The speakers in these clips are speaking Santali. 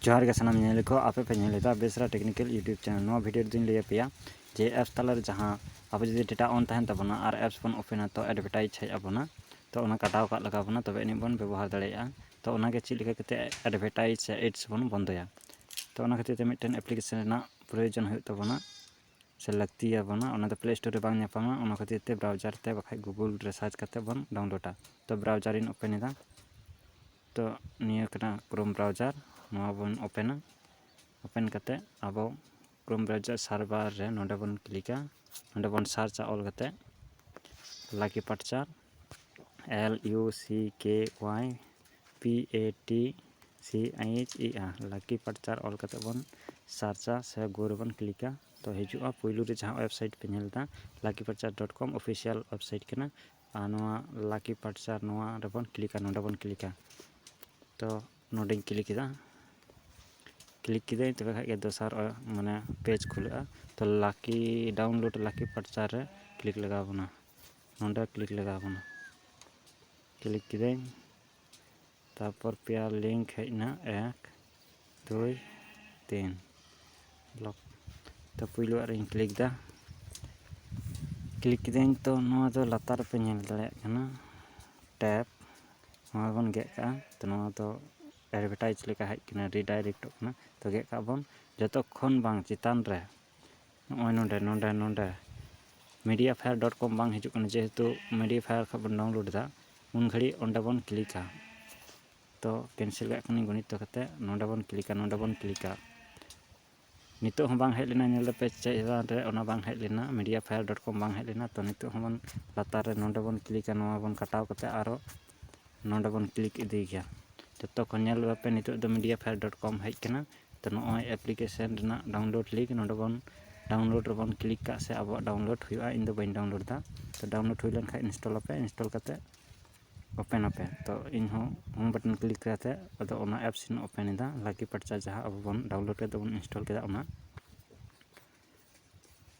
ᱡᱚᱦᱟᱨ ᱜᱮ ᱥᱟᱱᱟᱢ ᱧᱮᱞ ᱠᱚ ᱟᱯᱮ ᱯᱮ ᱧᱮᱞ ᱮᱫᱟ ᱵᱮᱥᱨᱟ ᱴᱮᱠᱱᱤᱠᱮᱞ ᱤᱭᱩᱴᱤᱭᱩᱵᱽ ᱪᱮᱱᱮᱞ ᱱᱚᱣᱟ ᱵᱷᱤᱰᱤᱭᱳ ᱨᱮᱫᱚᱧ ᱞᱟᱹᱭ ᱟᱯᱮᱭᱟ ᱡᱮ ᱮᱯᱥ ᱛᱟᱞᱟᱨᱮ ᱡᱟᱦᱟᱸ ᱟᱵᱚ ᱡᱩᱫᱤ ᱰᱮᱴᱟ ᱚᱱ ᱛᱟᱦᱮᱱ ᱛᱟᱵᱚᱱᱟ ᱟᱨ ᱮᱯᱥ ᱵᱚᱱ ᱳᱯᱮᱱᱟ ᱛᱚ ᱮᱰᱵᱷᱮᱴᱟᱭᱤᱡᱽ ᱦᱮᱡ ᱟᱵᱚᱱᱟ ᱛᱚ ᱚᱱᱟ ᱠᱟᱴᱟᱣ ᱠᱟᱜ ᱞᱟᱜᱟᱣ ᱵᱚᱱᱟ ᱛᱚᱵᱮ ᱟᱹᱱᱤᱡ ᱵᱚᱱ ᱵᱮᱵᱚᱦᱟᱨ ᱫᱟᱲᱮᱭᱟᱜᱼᱟ ᱛᱚ ᱚᱱᱟᱜᱮ ᱪᱮᱫ ᱞᱮᱠᱟ ᱠᱟᱛᱮᱫ ᱮᱰᱵᱷᱮᱴᱟᱭᱤᱡᱽ ᱥᱮ ᱮᱰᱥ ᱵᱚᱱ ᱵᱚᱱᱫᱚᱭᱟ ᱛᱚ ᱚᱱᱟ ᱠᱷᱟᱹᱛᱤᱨ ᱛᱮ ᱢᱤᱫᱴᱮᱱ ᱮᱯᱞᱤᱠᱮᱥᱮᱱ ᱨᱮᱱᱟᱜ ᱯᱨᱳᱭᱳᱡᱚᱱ ᱦᱩᱭᱩᱜ ᱛᱟᱵᱚᱱᱟ ᱥᱮ ᱞᱟᱹᱠᱛᱤ ᱟᱵᱚᱱᱟ ᱚᱱᱟ ᱫᱚ ᱯᱞᱮ ᱥᱴᱳᱨ ᱨᱮ ᱵᱟᱝ ᱧᱟᱯᱟᱢᱟ ᱚᱱᱟ ᱠᱷᱟᱹᱛᱤᱨ ᱛᱮ ᱵᱨᱟᱣᱡᱟᱨ ᱛᱮ ᱵᱟᱠᱷᱟᱡ ᱜᱩᱜᱩᱞ ᱨᱮ ᱥᱟᱨᱪ ᱠᱟᱛᱮᱫ ᱵᱚᱱ ᱰᱟᱣᱩᱱᱞᱳᱰᱟ ᱛᱚ ᱵᱨᱟᱣᱡᱟᱨ ᱤᱧ ᱳᱯᱮᱱ ᱮᱫᱟ ᱛᱚ ᱱᱤᱭᱟᱹ ᱠᱟᱱᱟ ᱠᱨᱳᱢ ᱵᱨᱟᱣᱡᱟᱨ ᱱᱚᱣᱟ ᱵᱚᱱ ᱳᱯᱮᱱᱟ ᱳᱯᱮᱱ ᱠᱟᱛᱮ ᱟᱵᱚ ᱠᱨᱳᱢ ᱵᱨᱟᱣᱡᱟᱨ ᱥᱟᱨᱵᱷᱟᱨ ᱨᱮ ᱱᱚᱰᱮ ᱵᱚᱱ ᱠᱞᱤᱠᱟ ᱱᱚᱰᱮ ᱵᱚᱱ ᱥᱟᱨᱪᱟ ᱚᱞ ᱠᱟᱛᱮ ᱞᱟᱠᱤ ᱯᱟᱨᱪᱟᱨ L U C K Y P A T C H E R ᱞᱟᱠᱤ ᱯᱟᱨᱪᱟᱨ ᱚᱞ ᱠᱟᱛᱮ ᱵᱚᱱ ᱥᱟᱨᱪᱟ ᱥᱮ ᱜᱳ ᱨᱮᱵᱚᱱ ᱠᱞᱤᱠᱟ ᱛᱚ ᱦᱤᱡᱩᱜᱼᱟ ᱯᱳᱭᱞᱳ ᱨᱮ ᱡᱟᱦᱟᱸ ᱳᱭᱮᱵᱽᱥᱟᱭᱤᱴ ᱯᱮ ᱧᱮᱞ ᱮᱫᱟ Lucky Patcher dot com official website ᱠᱟᱱᱟ ᱟᱨ ᱱᱚᱣᱟ ᱞᱟᱠᱤ ᱯᱟᱨᱴᱥᱟᱨ ᱱᱚᱣᱟ ᱨᱮᱵᱚᱱ ᱠᱞᱤᱠᱟ ᱱᱚᱰᱮ ᱵᱚᱱ ᱠᱞᱤᱠᱟ ᱛᱚ ᱱᱚᱰᱮᱧ ᱠᱞᱤᱠ ᱠᱮᱫᱟ ᱠᱞᱤᱠ ᱠᱮᱫᱟᱹᱧ ᱛᱚᱵᱮ ᱠᱷᱟᱱ ᱜᱮ ᱫᱚᱥᱟᱨ ᱢᱟᱱᱮ ᱯᱮᱡᱽ ᱠᱷᱩᱞᱟᱹᱜᱼᱟ ᱛᱚ ᱞᱟᱠᱤ ᱰᱟᱣᱩᱱᱞᱳᱰ ᱞᱟᱠᱤ ᱯᱟᱨᱴᱥᱟᱨ ᱨᱮ ᱠᱞᱤᱠ ᱞᱟᱜᱟᱣ ᱵᱚᱱᱟ ᱱᱚᱰᱮ ᱠᱞᱤᱠ ᱞᱟᱜᱟᱣ ᱵᱚᱱᱟ ᱠᱞᱤᱠ ᱠᱮᱫᱟᱹᱧ ᱛᱟᱨᱯᱚᱨ ᱯᱮᱭᱟ ᱞᱤᱝᱠ ᱦᱮᱡ ᱮᱱᱟ ᱮᱠ ᱫᱩᱭ ᱛᱤᱱ ᱞᱚᱠ ᱛᱚ ᱯᱩᱭᱞᱩᱣᱟᱜ ᱨᱤᱧ ᱠᱞᱤᱠ ᱮᱫᱟ ᱠᱞᱤᱠ ᱠᱤᱫᱟᱹᱧ ᱛᱚ ᱱᱚᱣᱟ ᱫᱚ ᱞᱟᱛᱟᱨ ᱨᱮᱯᱮ ᱧᱮᱞ ᱫᱟᱲᱮᱭᱟᱜ ᱠᱟᱱᱟ ᱴᱮᱯ ᱱᱚᱣᱟ ᱵᱚᱱ ᱜᱮᱫ ᱠᱟᱜᱼᱟ ᱛᱚ ᱱᱚᱣᱟ ᱫᱚ ᱮᱰᱵᱷᱮᱴᱟᱭᱤᱡᱽ ᱞᱮᱠᱟ ᱦᱮᱡ ᱠᱟᱱᱟ ᱨᱤᱰᱟᱭᱨᱮᱠᱴᱚᱜ ᱠᱟᱱᱟ ᱛᱚ ᱜᱮᱫ ᱠᱟᱜᱼᱟ ᱵᱚᱱ ᱡᱚᱛᱚᱠᱷᱚᱱ ᱵᱟᱝ ᱪᱮᱛᱟᱱ ᱨᱮ ᱱᱚᱜᱼᱚᱭ ᱱᱚᱰᱮ ᱱᱚᱰᱮ ᱱᱚᱰᱮ ᱢᱤᱰᱤᱭᱟ ᱯᱷᱟᱭᱟᱨ ᱰᱚᱴ ᱠᱚᱢ ᱵᱟᱝ ᱦᱤᱡᱩᱜ ᱠᱟᱱᱟ ᱡᱮᱦᱮᱛᱩ ᱢᱤᱰᱤᱭᱟ ᱯᱷᱟᱭᱟᱨ ᱠᱷᱚᱡ ᱵᱚᱱ ᱰᱟᱣᱩᱱᱞᱳᱰ ᱮᱫᱟ ᱩᱱ ᱜᱷᱟᱹᱲᱤᱡ ᱚᱸᱰᱮ ᱵᱚᱱ ᱠᱞᱤᱠᱟ ᱛᱚ ᱠᱮᱱᱥᱮᱞ ᱠᱟᱜ ᱠᱟᱹᱱᱟᱹᱧ ᱜᱚᱱᱤᱛᱛᱚ ᱠᱟᱛᱮ ᱱᱚᱰᱮ ᱵᱚᱱ ᱠᱞᱤᱠᱟ ᱱᱚᱰᱮ ᱵᱚᱱ ᱠᱞᱤᱠᱟ ᱱᱤᱛᱚᱜ ᱦᱚᱸ ᱵᱟᱝ ᱦᱮᱡ ᱞᱮᱱᱟ ᱧᱮᱞ ᱫᱟᱯᱮ ᱪᱮᱫ ᱪᱮᱛᱟᱱ ᱨᱮ ᱚᱱᱟ ᱵᱟᱝ ᱦᱮᱡ ᱞᱮᱱᱟ ᱢᱤᱰᱤᱭᱟ ᱯᱷᱟᱭᱟᱨ ᱰᱚᱴ ᱠᱚᱢ ᱵᱟᱝ ᱦᱮᱡ ᱞᱮᱱᱟ ᱛᱚ ᱱᱤᱛᱚᱜ ᱦᱚᱸ ᱵᱚᱱ ᱞᱟᱛᱟᱨ ᱨᱮ ᱱᱚᱰᱮ ᱵᱚᱱ ᱠᱞᱤᱠᱟ ᱱᱚᱣᱟ ᱵᱚᱱ ᱠᱟᱴᱟᱣ ᱠᱟᱛᱮ ᱟᱨᱚ ᱱᱚᱰᱮ ᱵᱚᱱ ᱠᱞᱤᱠ ᱤᱫᱤᱭ ᱜᱮᱭᱟ ᱡᱚᱛᱚ ᱠᱚ ᱧᱮᱞ ᱞᱮᱯᱮ ᱱᱤᱛᱚᱜ ᱫᱚ ᱢᱤᱰᱤᱭᱟ ᱯᱷᱟᱭᱤᱞ ᱰᱚᱴ ᱠᱚᱢ ᱦᱮᱡ ᱠᱟᱱᱟ ᱛᱚ ᱱᱚᱜᱼᱚᱭ ᱮᱯᱞᱤᱠᱮᱥᱮᱱ ᱨᱮᱱᱟᱜ ᱰᱟᱣᱩᱱᱞᱳᱰ ᱞᱤᱝᱠ ᱱᱚᱰᱮ ᱵᱚᱱ ᱰᱟᱣᱩᱱᱞᱳᱰ ᱨᱮᱵᱚᱱ ᱠᱞᱤᱠ ᱠᱟᱜ ᱥᱮ ᱟᱵᱚᱣᱟᱜ ᱰᱟᱣᱩᱱᱞᱳᱰ ᱦᱩᱭᱩᱜᱼᱟ ᱤᱧ ᱫᱚ ᱵᱟᱹᱧ ᱰᱟᱣᱩᱱᱞᱳᱰ ᱫᱟ ᱛᱚ ᱰᱟᱣᱩᱱᱞᱳᱰ ᱦᱩᱭ ᱞᱮᱱᱠᱷᱟᱡ ᱤᱱᱥᱴᱚᱞ ᱟᱯᱮ ᱤᱱᱥᱴᱚᱞ ᱠᱟᱛᱮ ᱳᱯᱮᱱ ᱟᱯᱮ ᱛᱚ ᱤᱧ ᱦᱚᱸ ᱦᱳᱢ ᱵᱟᱴᱚᱱ ᱠᱞᱤᱠ ᱠᱟᱛᱮ ᱟᱫᱚ ᱚᱱᱟ ᱮᱯᱥ ᱤᱧ ᱳᱯᱮᱱ ᱮᱫᱟ ᱞᱟᱠᱤ ᱯᱟᱨᱪᱟ ᱡᱟᱦᱟᱸ ᱟᱵᱚ ᱵᱚᱱ ᱰᱟᱣᱩᱱᱞᱳᱰ ᱠᱟᱛᱮ ᱵᱚᱱ ᱤᱱᱥᱴᱚᱞ ᱠᱮᱫᱟ ᱚᱱᱟ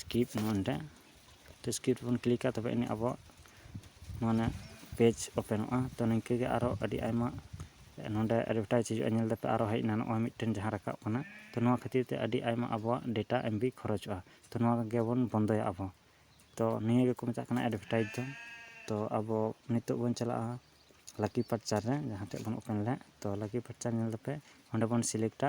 ᱥᱠᱤᱯ ᱱᱚᱰᱮ ᱥᱠᱤᱯ ᱵᱚᱱ ᱠᱞᱤᱠᱟ ᱛᱚᱵᱮ ᱟᱹᱱᱤᱡ ᱟᱵᱚᱣᱟᱜ ᱢᱟᱱᱮ ᱯᱮᱡᱽ ᱳᱯᱮᱱᱚᱜᱼᱟ ᱛᱳ ᱱᱤᱝᱠᱟᱹ ᱜᱮ ᱟᱨᱚ ᱟᱹᱰᱤ ᱟᱭᱢᱟ ᱱᱚᱰᱮ ᱮᱰᱵᱷᱮᱴᱟᱭᱤᱡᱽ ᱦᱤᱡᱩᱜᱼᱟ ᱧᱮᱞ ᱫᱟᱯᱮ ᱟᱨᱚ ᱦᱮᱡ ᱮᱱᱟ ᱱᱚᱜᱼᱚᱭ ᱢᱤᱫᱴᱮᱱ ᱡᱟᱦᱟᱸ ᱨᱟᱠᱟᱵ ᱠᱟᱱᱟ ᱛᱳ ᱱᱚᱣᱟ ᱠᱷᱟᱹᱛᱤᱨ ᱛᱮ ᱟᱹᱰᱤ ᱟᱭᱢᱟ ᱟᱵᱚᱣᱟᱜ ᱰᱮᱴᱟ ᱮᱢ ᱵᱤ ᱠᱷᱚᱨᱚᱪᱚᱜᱼᱟ ᱛᱳ ᱱᱚᱣᱟ ᱜᱮᱵᱚᱱ ᱵᱚᱱᱫᱚᱭᱟ ᱟᱵᱚ ᱛᱳ ᱱᱤᱭᱟᱹ ᱜᱮᱠᱚ ᱢᱮᱛᱟᱜ ᱠᱟᱱᱟ ᱮᱰᱵᱷᱮᱴᱟᱭᱤᱡᱽ ᱫᱚ ᱛᱳ ᱟᱵᱚ ᱱᱤᱛᱚᱜ ᱵᱚᱱ ᱪᱟᱞᱟᱜᱼᱟ ᱞᱟᱹᱠᱤ ᱯᱟᱨᱪᱟᱨ ᱨᱮ ᱡᱟᱦᱟᱸ ᱴᱷᱮᱡ ᱵᱚᱱ ᱳᱯᱮᱱ ᱞᱮᱫ ᱛᱳ ᱞᱟᱹᱠᱤ ᱯᱟᱨᱪᱟᱨ ᱧᱮᱞ ᱫᱟᱯᱮ ᱚᱸᱰᱮ ᱵᱚᱱ ᱥᱤᱞᱮᱠᱴᱟ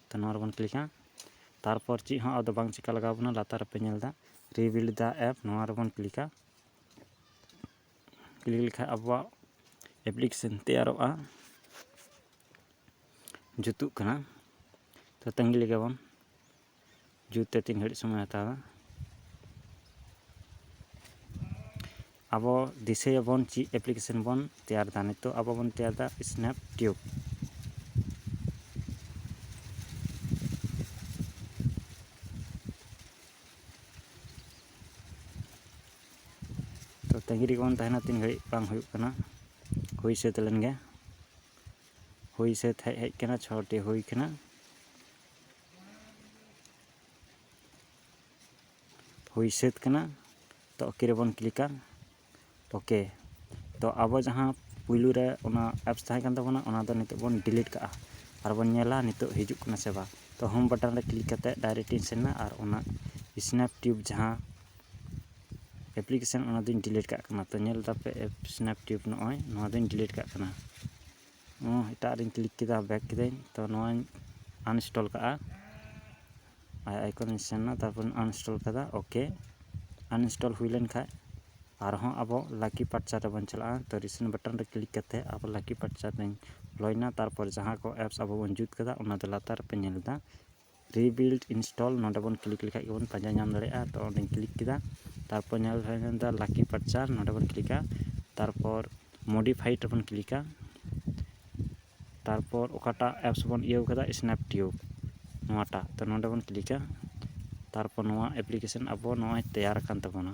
ᱛᱚ ᱱᱚᱣᱟ ᱨᱮᱵᱚᱱ ᱠᱞᱤᱠᱟ ᱛᱟᱨᱯᱚᱨ ᱪᱮᱫ ᱦᱚᱸ ᱟᱫᱚ ᱵᱟᱝ ᱪᱤᱠᱟ ᱞᱟᱜᱟᱣ ᱵᱚᱱᱟ ᱞᱟᱛᱟᱨ ᱨᱮᱯᱮ ᱧᱮᱞ ᱮᱫᱟ ᱨᱤᱵᱤᱞᱰ ᱫᱟ ᱮᱯ ᱱᱚᱣᱟ ᱨᱮᱵᱚᱱ ᱠᱞᱤᱠᱟ ᱠᱞᱤᱠ ᱞᱮᱠᱷᱟᱡ ᱟᱵᱚᱣᱟᱜ ᱮᱯᱞᱤᱠᱮᱥᱚᱱ ᱛᱮᱭᱟᱨᱚᱜᱼᱟ ᱡᱩᱛᱩᱜ ᱠᱟᱱᱟ ᱛᱚ ᱛᱟᱺᱜᱤ ᱞᱮᱜᱮ ᱵᱚᱱ ᱡᱩᱛ ᱛᱮ ᱛᱤᱱ ᱜᱷᱟᱹᱲᱤᱡ ᱥᱚᱢᱚᱭ ᱦᱟᱛᱟᱣᱟ ᱟᱵᱚ ᱫᱤᱥᱟᱹᱭᱟᱵᱚᱱ ᱪᱮᱫ ᱮᱯᱞᱤᱠᱮᱥᱚᱱ ᱵᱚᱱ ᱛᱮᱭᱟᱨ ᱮᱫᱟ ᱱᱤᱛᱚᱜ ᱟᱵᱚ ᱵᱚᱱ ᱛᱮᱭᱟᱨ ᱮᱫᱟ ᱥᱱᱮᱯ ᱴᱤᱭᱩᱵᱽ ᱛᱚ ᱛᱟᱺᱜᱤ ᱨᱮᱜᱮ ᱵᱚᱱ ᱛᱟᱦᱮᱱᱟ ᱛᱤᱱ ᱜᱷᱟᱹᱲᱤᱡ ᱵᱟᱝ ᱦᱩᱭᱩᱜ ᱠᱟᱱᱟ ᱦᱩᱭ ᱥᱟᱹᱛ ᱞᱮᱱ ᱜᱮ ᱦᱩᱭ ᱥᱟᱹᱛ ᱦᱮᱡ ᱦᱮᱡ ᱠᱟᱱᱟ ᱪᱷᱚᱴᱤ ᱦᱩᱭ ᱠᱟᱱᱟ ᱦᱩᱭ ᱥᱟᱹᱛ ᱠᱟᱱᱟ ᱛᱚ ᱚᱠᱮ ᱨᱮᱵᱚᱱ ᱠᱞᱤᱠᱟ ᱚᱠᱮ ᱛᱚ ᱟᱵᱚ ᱡᱟᱦᱟᱸ ᱯᱩᱭᱞᱩ ᱨᱮ ᱚᱱᱟ ᱮᱯᱥ ᱛᱟᱦᱮᱸ ᱠᱟᱱ ᱛᱟᱵᱚᱱᱟ ᱚᱱᱟ ᱫᱚ ᱱᱤᱛᱚᱜ ᱵᱚᱱ ᱰᱤᱞᱤᱴ ᱠᱟᱜᱼᱟ ᱟᱨ ᱵᱚᱱ ᱧᱮᱞᱟ ᱱᱤᱛᱚᱜ ᱦᱤᱡᱩᱜ ᱠᱟᱱᱟ ᱥᱮ ᱵᱟᱝ ᱛᱚ ᱦᱳᱢ ᱵᱟᱴᱚᱱ ᱨᱮ ᱠᱞᱤᱠ ᱠᱟᱛᱮ ᱰᱟᱭᱨᱮᱠᱴ ᱤᱧ ᱥᱮᱱ ᱮᱱᱟ ᱟᱨ ᱚᱱᱟ ᱥᱱᱮᱯ ᱴᱤᱭᱩᱵᱽ ᱡᱟᱦᱟᱸ ᱮᱯᱞᱤᱠᱮᱥᱚᱱ ᱚᱱᱟ ᱫᱩᱧ ᱰᱤᱞᱤᱴ ᱠᱟᱜ ᱠᱟᱱᱟ ᱛᱚ ᱧᱮᱞ ᱫᱟᱯᱮ ᱥᱱᱮᱯ ᱴᱤᱭᱩᱵᱽ ᱱᱚᱜᱼᱚᱭ ᱱᱚᱣᱟ ᱫᱩᱧ ᱰᱤᱞᱤᱴ ᱠᱟᱜ ᱠᱟᱱᱟ ᱮᱴᱟᱜ ᱨᱮᱧ ᱠᱞᱤᱠ ᱠᱮᱫᱟ ᱵᱮᱠ ᱠᱤᱫᱟᱹᱧ ᱛᱚ ᱱᱚᱣᱟᱧ ᱟᱱᱤᱱᱥᱴᱚᱞ ᱠᱟᱜᱼᱟ ᱟᱭ ᱟᱭᱠᱚᱱ ᱨᱮᱧ ᱥᱮᱱ ᱮᱱᱟ ᱛᱟᱨᱯᱚᱨ ᱟᱱᱤᱱᱥᱴᱚᱞ ᱠᱮᱫᱟ ᱳᱠᱮ ᱟᱱᱤᱱᱥᱴᱚᱞ ᱦᱩᱭ ᱞᱮᱱ ᱠᱷᱟᱡ ᱟᱨᱦᱚᱸ ᱟᱵᱚ ᱞᱟᱠᱤ ᱯᱟᱨᱪᱟ ᱨᱮᱵᱚᱱ ᱪᱟᱞᱟᱜᱼᱟ ᱛᱚ ᱨᱤᱥᱮᱱ ᱵᱟᱴᱚᱱ ᱨᱮ ᱠᱞᱤᱠ ᱠᱟᱛᱮᱫ ᱟᱵᱚ ᱞᱟᱠᱤ ᱯᱟᱨᱪᱟ ᱨᱮᱧ ᱵᱚᱞᱚᱭᱮᱱᱟ ᱛᱟᱨᱯᱚᱨ ᱡᱟᱦᱟᱸ ᱠᱚ ᱮᱯᱥ ᱟᱵᱚ ᱵᱚᱱ ᱡᱩᱛ ᱠᱟᱫᱟ ᱚᱱᱟ ᱫᱚ ᱞᱟᱛᱟᱨ ᱨᱮᱯᱮ ᱧᱮᱞ ᱮᱫᱟ ᱨᱤᱵᱤᱞᱰ ᱤᱱᱥᱴᱚᱞ ᱱᱚᱰᱮ ᱵᱚᱱ ᱠᱞᱤᱠ ᱞᱮᱠᱷᱟᱡ ᱜᱮᱵᱚᱱ ᱯᱟᱸᱡᱟ ᱧᱟᱢ ᱫᱟᱲᱮᱭᱟᱜᱼᱟ ᱛᱚ ᱚᱸᱰᱮᱧ ᱠᱞᱤᱠ ᱠᱮᱫᱟ ᱛᱟᱨᱯᱚᱨ ᱧᱮᱞ ᱞᱮᱠᱷᱟᱡ ᱵᱚᱱ ᱧᱟᱢᱫᱟ ᱞᱟᱠᱤ ᱯᱟᱨᱪᱟᱨ ᱱᱚᱰᱮ ᱵᱚᱱ ᱠᱞᱤᱠᱟ ᱛᱟᱨᱯᱚᱨ ᱢᱳᱰᱤᱯᱷᱟᱭᱤᱰ ᱨᱮᱵᱚᱱ ᱠᱞᱤᱠᱟ ᱛᱟᱨᱯᱚᱨ ᱚᱠᱟᱴᱟᱜ ᱮᱯᱥ ᱵᱚᱱ ᱤᱭᱟᱹᱣ ᱠᱟᱫᱟ ᱥᱱᱮᱯ ᱴᱤᱭᱩᱵᱽ ᱱᱚᱣᱟᱴᱟᱜ ᱛᱚ ᱱᱚᱰᱮ ᱵᱚᱱ ᱠᱞᱤᱠᱟ ᱛᱟᱨᱯᱚᱨ ᱱᱚᱣᱟ ᱮᱯᱞᱤᱠᱮᱥᱚᱱ ᱟᱵᱚ ᱱᱚᱜᱼᱚᱭ ᱛᱮᱭᱟᱨ ᱟᱠᱟᱱ ᱛᱟᱵᱚᱱᱟ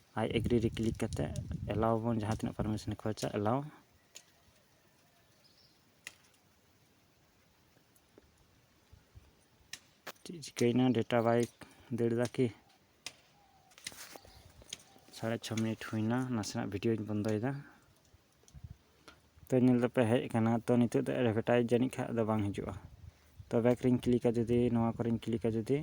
ᱟᱭ ᱮᱜᱽᱨᱤ ᱨᱮ ᱠᱞᱤᱠ ᱠᱟᱛᱮ ᱮᱞᱟᱣ ᱵᱚᱱ ᱡᱟᱦᱟᱸ ᱛᱤᱱᱟᱹᱜ ᱯᱟᱨᱢᱤᱥᱚᱱᱮ ᱠᱷᱚᱡᱟ ᱮᱞᱟᱣ ᱪᱮᱫ ᱪᱤᱠᱟᱹᱭᱮᱱᱟ ᱰᱮᱴᱟ ᱵᱟᱭ ᱫᱟᱹᱲ ᱮᱫᱟ ᱠᱤ ᱥᱟᱲᱮ ᱪᱷᱚ ᱢᱤᱱᱤᱴ ᱦᱩᱭᱱᱟ ᱱᱟᱥᱮᱱᱟᱜ ᱵᱷᱤᱰᱤᱭᱳᱧ ᱵᱚᱱᱫᱚᱭᱮᱫᱟ ᱛᱚ ᱧᱮᱞ ᱫᱟᱯᱮ ᱦᱮᱡ ᱟᱠᱟᱱᱟ ᱛᱚ ᱱᱤᱛᱚᱜ ᱫᱚ ᱮᱰᱵᱷᱮᱴᱟᱭᱤᱡᱽ ᱡᱟᱹᱱᱤᱡ ᱠᱷᱟᱡ ᱫᱚ ᱵᱟᱝ ᱦᱤᱡᱩᱜᱼᱟ ᱛᱚ ᱵᱮᱠ ᱨᱤᱧ ᱠᱞᱤᱠᱟ ᱡᱩᱫᱤ ᱱᱚᱣᱟ ᱠᱚᱨᱮᱧ ᱠᱞᱤᱠᱟ ᱡᱩᱫᱤ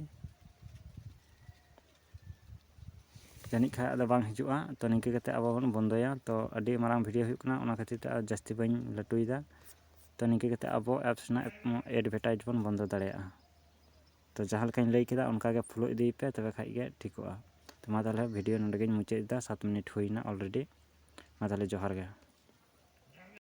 ᱡᱟᱹᱱᱤᱡ ᱠᱷᱟᱡ ᱟᱫᱚ ᱵᱟᱝ ᱦᱤᱡᱩᱜᱼᱟ ᱛᱚ ᱱᱤᱝᱠᱟᱹ ᱠᱟᱛᱮ ᱟᱵᱚ ᱵᱚᱱ ᱵᱚᱱᱫᱚᱭᱟ ᱛᱚ ᱟᱹᱰᱤ ᱢᱟᱨᱟᱝ ᱵᱷᱤᱰᱤᱭᱳ ᱦᱩᱭᱩᱜ ᱠᱟᱱᱟ ᱚᱱᱟ ᱠᱷᱟᱹᱛᱤᱨ ᱛᱮ ᱟᱨ ᱡᱟᱹᱥᱛᱤ ᱵᱟᱹᱧ ᱞᱟᱹᱴᱩᱭᱮᱫᱟ ᱛᱚ ᱱᱤᱝᱠᱟᱹ ᱠᱟᱛᱮ ᱟᱵᱚ ᱮᱯᱥ ᱨᱮᱱᱟᱜ ᱮᱰᱵᱷᱮᱴᱟᱭᱤᱡᱽ ᱵᱚᱱ ᱵᱚᱱᱫᱚ ᱫᱟᱲᱮᱭᱟᱜᱼᱟ ᱛᱚ ᱡᱟᱦᱟᱸ ᱞᱮᱠᱟᱧ ᱞᱟᱹᱭ ᱠᱮᱫᱟ ᱚᱱᱠᱟ ᱜᱮ ᱯᱷᱳᱞᱳ ᱤᱫᱤᱭ ᱯᱮ ᱛᱚᱵᱮ ᱠᱷᱟᱱ ᱜᱮ ᱴᱷᱤᱠᱚᱜᱼᱟ ᱛᱚ ᱢᱟ ᱛᱟᱦᱚᱞᱮ ᱵᱷᱤᱰᱤᱭᱳ ᱱᱚᱰᱮ ᱜᱮᱧ ᱢᱩᱪᱟᱹᱫ ᱮᱫᱟ ᱥᱟᱛ ᱢᱤᱱᱤᱴ ᱦᱩᱭᱱᱟ ᱚᱞᱨᱮᱰᱤ ᱢᱟ ᱛᱟᱦᱚᱞᱮ ᱡᱚᱦᱟᱨ ᱜᱮ